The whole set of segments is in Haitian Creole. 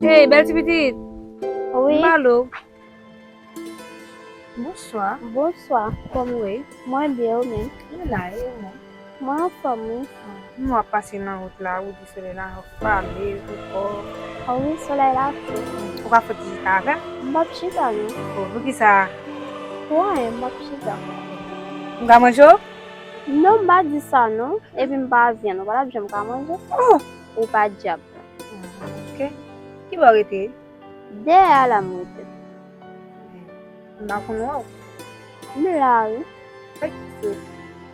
Hey bèl ti pitit Oui Malo Bonswa Bonswa Kòm ou ye? Mwen byen ou menm? Mwen la e ou menm? Mwen anfom wi frèm. Humm wap pase nan rout la ou di soley la fame ou fò. Oh wi soley la fou ui. Ou pa fout chita avèm. M pap chita non. Oh poukisa. Pou anyen m pap chita. M ka manje w? Non m pa di sa non. Epi m pa vyann ou pa tap janm ka manje. Oh! Ou pa dyab non. Ok. Ki bò w rete? Dèyè a la m rete. M pa konn wè w. M la wi. Ok.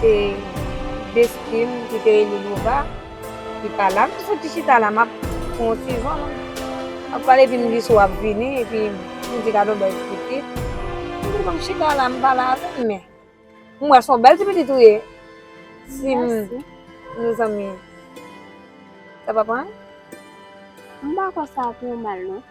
Se Destin ki te rele Nova ki pa la. M te soti chita la, m ap pran yon ti van. M ap pale epi m di Sou ap vini epi m di gadon bèl ti pitit. M di bon m chita la m pale avè l men m wè se yon bèl ti pitit ou ye si nou zanmi sa p ap anyen? M pa kwè sa ap yon mal non.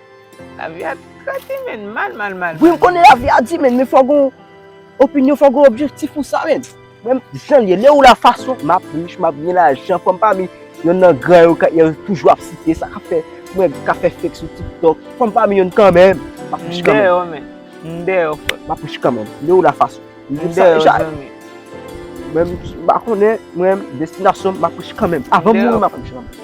Lavi a kraze menn mal mal mal mal. Wi m konnen lavi a di menn men fò gon opinyon fò gon objektif pou sa menn. Menm jan l ye lè ou la fason m ap rich m ap gen lajan fò m pami yonn nan gran yo yo toujou ap site sa k ap fè mwen ka fè fake sou tiktok fò m pami yonn kanmenm m ap rich kanmenm. M deyò menn m deyò frè m. M ap rich kanmenm lè ou la fason m dim sa deja menm si m pa konnen mwen destinasyon m m ap rich kanmenm avan m mouri m ap rich kanmenm.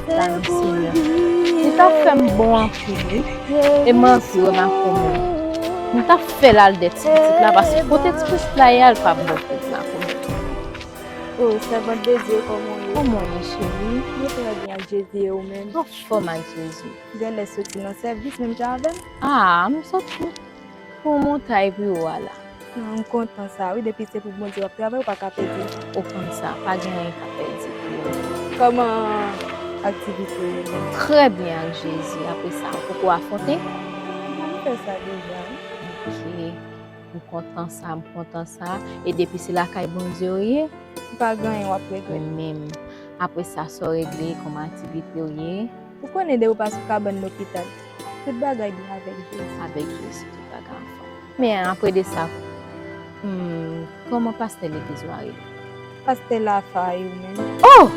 Salut Seigneur. Li ta fèm bon anpil wi. E manti wè ma koum lan. M ta fèl al dè ti pitit la paske kote ti pitit la ye a li pap bon pou ma koum. Oh sèvant de Dieu kòman ou ye? Kòman ou ye cheri? Mwen trè byen ak Jezi e ou menm? Anfòm ak Jezi. Genlè soti nan sèvis menm jan avèm? Ah m soti. Fon montay pu ou ala. M kontan sa wi depi se pou bondye wap travay ou pa ka pedi. Ou konn sa pa gen anyen ka pedi pou bondye. Koman aktivite yo menm. Trè byen ak jezi apresa ou poko afronte. M fè sa deja wi. Ok m kontan sa m kontan sa e depi se lakay bondye ou ye. Ou pa gen anyen wap regrèt. Menm apresa sa ou regle koman aktivite ou ye. Ou konnen de ou pa sou kabann lopital. Tout bagay byen avèk Jezi. Avèk Jezi tout bagay anfòm. Men apre de sa, kòman pastè legliz ou a rele? Pastè Lafa, e ou menm? Oh!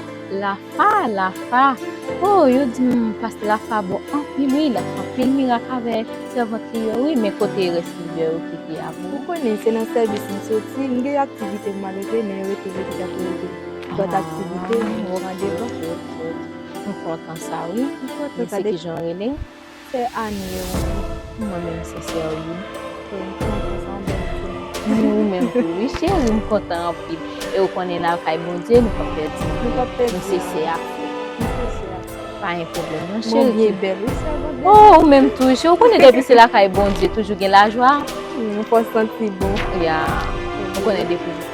Lafa, Lafa! Oh! Yo di m pastè Lafa bon anpil wi, l ap fè anpil mirak avè sèvant li yo wi, men kote rès lidè yo ki te avè ou? Ou konnen se nan sèvis m soti, m gen aktivite pou m al regle men yo rete legliz ap rele. Lòt aktivite, m pran devan. M kontan sa wi men se kijan rele. Fe anie ou menm pou mwen menm sese wi. Wi m kontan sa yon bel film. Ni ou menm tou wi cheri m kontan anpil e ou konnen lakay bondye nou pap pèdi anyen m sese ak ou. Pa gen pwoblem non cheri. Bondye bel wi sè bondye. Oh ou menm tou wi cheri ou konnen depi se lakay bondye toujou gen lajwa. Wi m kontan ti boo. Ya ou konnen depi.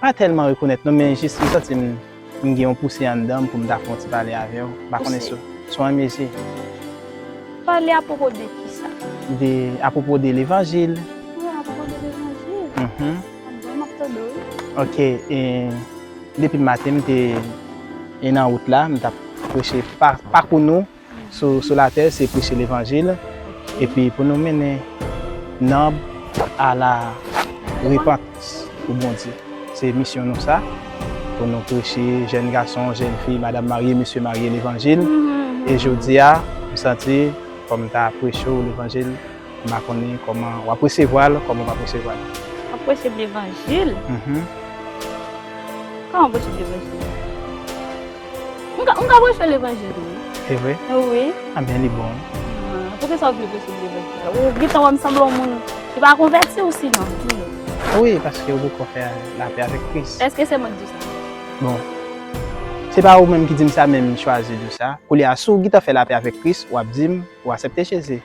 Pa tèlman rekonèt non men jis m santi m m gen yon pouse anndan m pou m ta fè yon ti pale avè w. M pa konnen si w renmen si. Pale apwopo de kisa? De, apwopo de levanjil. Pale apwopo de levanjil? Mh. Anben m ap tande w. Ok, e depi maten m te e nan wout la m t ap preche pakou nou. Sou latè se preche levanjil epi pou nou mennen nanm a la repantans pou Bondye se misyon nou sa pou nou preche jèn gason jèn fi madam marye mesye marye levanjil e jodia m santi fòm ta preche w levanjil m pa konnen kòman wap resevwa l kòman w pap resevwa l wap preche m levanjil kòman w preche m levanjil. M ka m ka preche levanjil tou wi. Se vre? Wi. Anben li bon wi. Poukisa ou vle preche levanjil la? Ou gentan wè m sanble yon moun ki pa konvèti ou sinon di m. Wi paske ou poko fè lapè avèk Kris. Eske se mwen k di w sa? Bon. Se pa ou menm ki di m sa men m chwazi di w sa. Koulye a si w gentan fè lapè avèk Kris w ap di m ou asepte Jezi.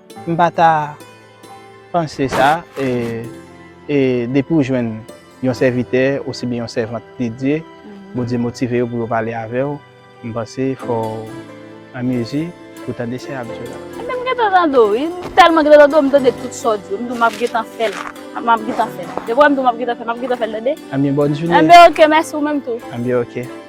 M pa ta panse sa e depi ou jwenn yon sèvitè osibyen yon sèvant dedye, Bondye motive yo pou yo pale avè w, m panse fò w an mezi pou tande sa y ap di w la. Ebyen m gentan tande w wi, m tèlman gentan tande w m tande tout sa w di yo, m di w m ap gentan fè l, m ap gentan fè l. Depi w wè m di w m ap gentan fè l, m ap gentan fè l tande. Anbyen bòn jounen. Anbyen ok, mèsi ou menm tou. Anbyen ok.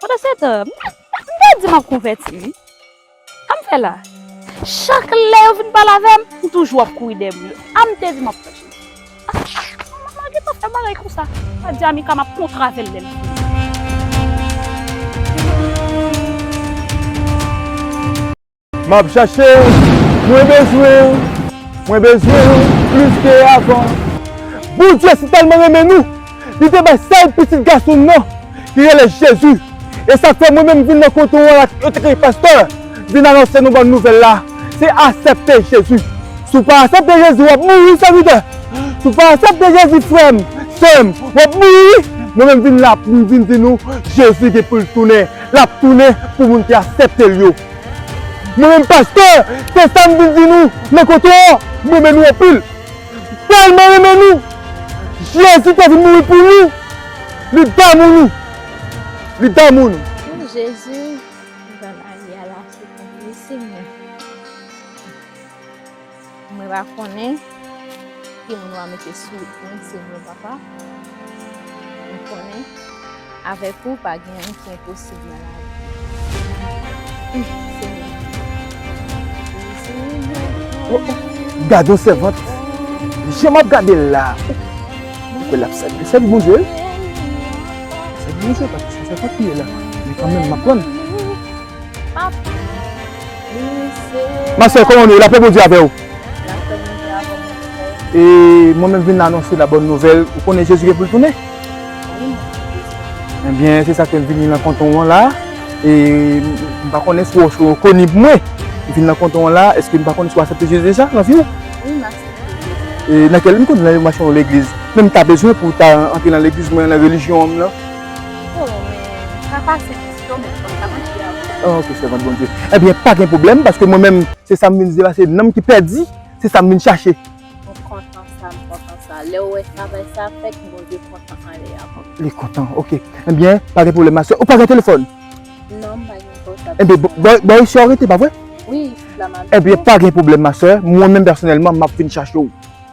Pandan se tan, m ta di m ap konvèti wi. Sa m fè la? Chak lè yo vin pale avè m, m toujou ap kouri dèyè moun yo. A m te di m ap pran Jezi. M pa gen tan fè bagay konsa. M ta di Amika m ap kontre avè l lè l vini. Map chachew, mwen bezwenw, mwen bezwenw plis ke avan. Bondye si tèlman renmen nou, li te bay sèl pitit gason l nan ki rele Jezi, e sak fè mwen menm vin nan kote w an la yo te rele pastè vin anonse nou bòn nouvèl la se asèpte Jezi, si w pa asèpte Jezi wap mouri wi sèvitè, si w pa asèpte Jezi frè m, sè m wap mouri wi, mwen menm vin la pou m vin di nou Jezi gen pou l tounen, lap tounen pou moun ki asèpte l yo. Mwen menm pastè se sam vin di nou nan kote a m renmen nou anpil m tèlman renmen nou jezi te vin mouri pou nou li damou nou li damou nou. Ooh Jezu bann Ania la fou pou mwen Seigneur. Mwen pa konnen ki moun wap mete sou moun se mwen papa mwen konnen avèk ou pa gen anyen ki enposib nan lavi. Gad yon sèvant jan map gade l la mwen kwè lap sèvi sèvi Bondye wi sèvi Bondye paske se sèvant li ye la men kanmenm map prann. Ma sè kòman nou ye? Lapè Bondye avè ou. E mwen menm vin anonse la bòn nouvèl. Ou konnen Jezi gen pou l tounen? Enbyen se sa k fè m vini nan kanton an la. E m pa konnen si w ou rekonib mwen. M vin nan kanton an la. Èske m pa konnen si w asepte Jezi deja nan vi w? Wi m asepte Jezi. E nan kèl? M konnen nan yon machann yon legliz. Men m ta bezwen pou w ta antre nan legliz mwen an, nan relijyon an m lan. Oh men papa se Christo menm fòk ta manje a wi. Oh ok sèvant Bondye. Ebyen pa gen pwoblèm paske mwen menm se sa m vin di la se nanm ki pèdi se sa m vin chache. Mwen kontan sa m kontan sa. Lè ou wè travay sa a fèt Bondye kontan anlè a kontan. Li kontan ok. Ebyen pa gen pwoblèm ma sè. Ou pa gen telefòn? Non m pa gen pòtab. Ebyen bò bò isi a w rete pa vre? Wi isit la m abite. Ebyen pa gen pwoblèm ma sè mwen menm pèsonèlman m ap vin chache w.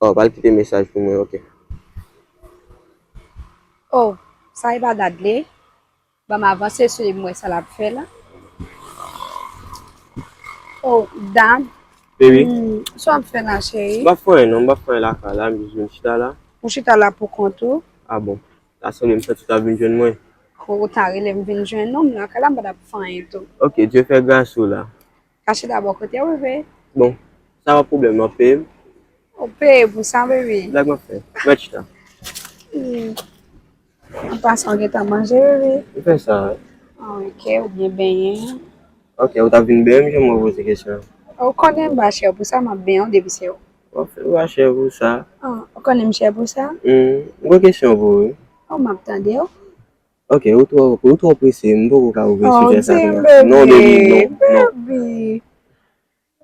Oh pral kite mesaj pou mwen ok. Oh sa epa dadle banm avanse sou li m wè sa lap fè la oh dad Baby Sa wap fè la cheri. M pap fè anyen non m pap fè anyen lakay la m jis vin chita la. Ou chita la pou kont ou. Ah bon ta sanble m santi w tap vin jwenn mwen. Ou ta rele m vin jwenn ou m lakay la m pa tap fè anyen tou. Ok Dieu fè gras ou la. Kache dabò kotew rive. Bon sa pa pwoblèm wap peyem. Wap peyem pou sa baby. Blag map fè ret chita. An pasan ou gentan manje baby. Ou fè sa wi. Ok ou byen benyen. Ok ou tap vin benyem jan mwen poze kesyon an. Ou konnen m pa chè pou sa map benyen w depi se ou. Wap fè mpa chè pou sa. Ou konnen m chè pou sa. Humm m gen kesyon pou ou wi. Oh map tandew. Ok ou tro ou tro prese m poko ka ouvri sijè sa kounya. Oh dim bebe non baby non baby.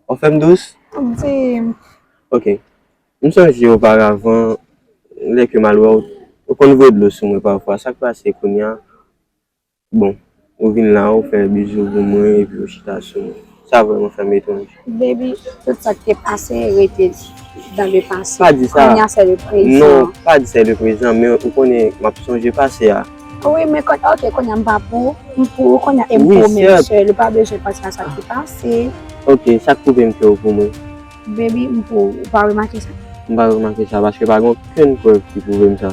Wap fem dous? Dim. Ok m sonje oparavan lè kem al wèw ou konn voye dlo sou mwen pafwa sak pase kounya bon ou vin la ou fè bizou pou mwen epi ou chita sou mwen. Sa vreman fèm etone. Baby tout sak te pase rete dans le passé. Pa di sa. Kounya se le prezan. Non pa di se le prezan men ou konnen map sonje pase a. Wi men kon ok kounya m pa pou m pou ou kounya e m pou ou men se li pa bezwen panse a sak te pase. Ok sak pwouvem ke ou pou mwen. Baby m pou ou. Ou pa remake sa? M pa remake sa paske pa gen okenn prèv ki pwouvem sa.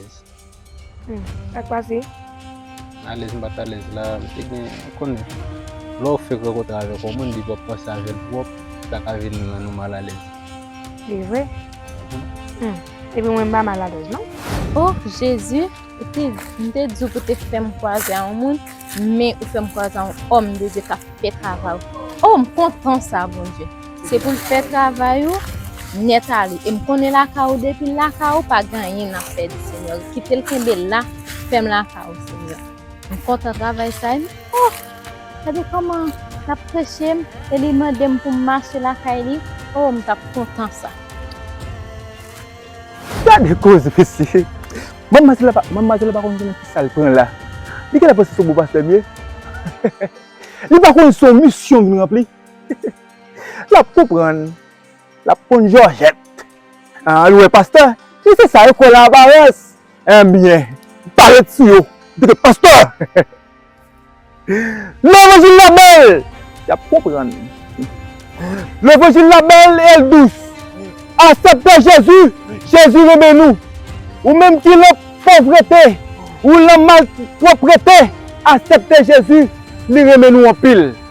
Sak pase? Alèz m pat alèz la, m te gen, ou konnen, lè w fèk rankontre avèk yon moun depi w ap panse avè l twòp, sa ka vin rann ou malalèz. Se vre? Epi mwen m pa malalèz non. O Jezi, ou te di, m te di w pou te fè m kwaze a yon moun, men ou fè m kwaze a yon òm de Dye k ap fè travay ou. O, m kontan sa Bondye. Se pou l fè travay ou nèt ale e m konnen lakay ou depi l lakay ou pa gen anyen n ap pèdi senyè kite l kenbe la fèm lakay ou senyè m kontan travay sa e m oh gade kòman l ap preche m e li mande m pou m mache lakay li oh m t ap kontan sa. Gade koze mesye manm matela pa manm matela pa konn ki nan kisa l pran la li gentan panse se yon bon pastè m ye li pa konn se yon misyon m vin ranpli. Lap konprann, lap konn jòjèt. An nou wè pastè, e se sa yo kwè lan aparans. Enbyen, pa ret sou yo, deke pastè! Levanjil la bèl, yap konprann. Levanjil la bèl e l dous. Asèpte Jezi, Jezi renmen nou. Ou menm ki lan povrete, ou lan malpwoprete, asèpte Jezi, li renmen nou anpil.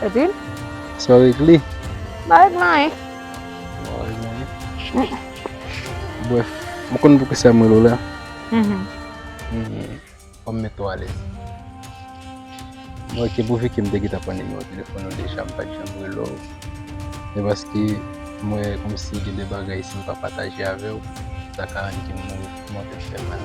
Epi? Sa w ekri? M pa ekri anyen. Ou pa ekri anyen? Brèf, ou konn pou ki sa m rele w la? Fò m mete w alèz. Mwen ki pou Viki m te gentan pran nimewo telefòn ou deja m pa t janm rele w. Se paske m wè kòmsi gen de bagay si m pa pataje avè w, sa ka rann kè m mouri tèlman l fè mal.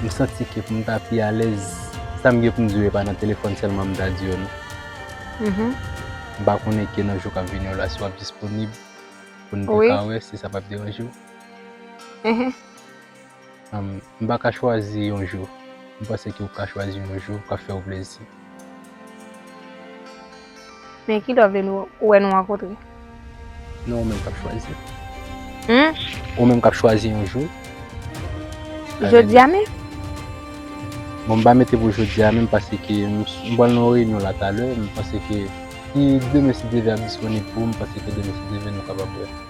M santi ke pou m ta pi alèz, sa m gen pou m di yo e pa nan telefòn sèlman m ta di yo non. M pa konnen ke nan jou k ap vini yo la si w ap disponib pou n te ka wè si sa pa p deranje w. M pa ka chwazi yon jou. M panse ke ou ka chwazi yon jou k ap fè ou plezi. Men ki love li ou wè nou rankontre? Non ou menm kap chwazi. Hum? Ou menm kap chwazi yon jou. Jodi a menm? Bon m pa mete pou jodi a menm pase ke m pral nan yon reyinyon la talè, m panse ke si demen si Dye vle ap disponib pou m, m panse ke demen si Dye vle nou kapab wè.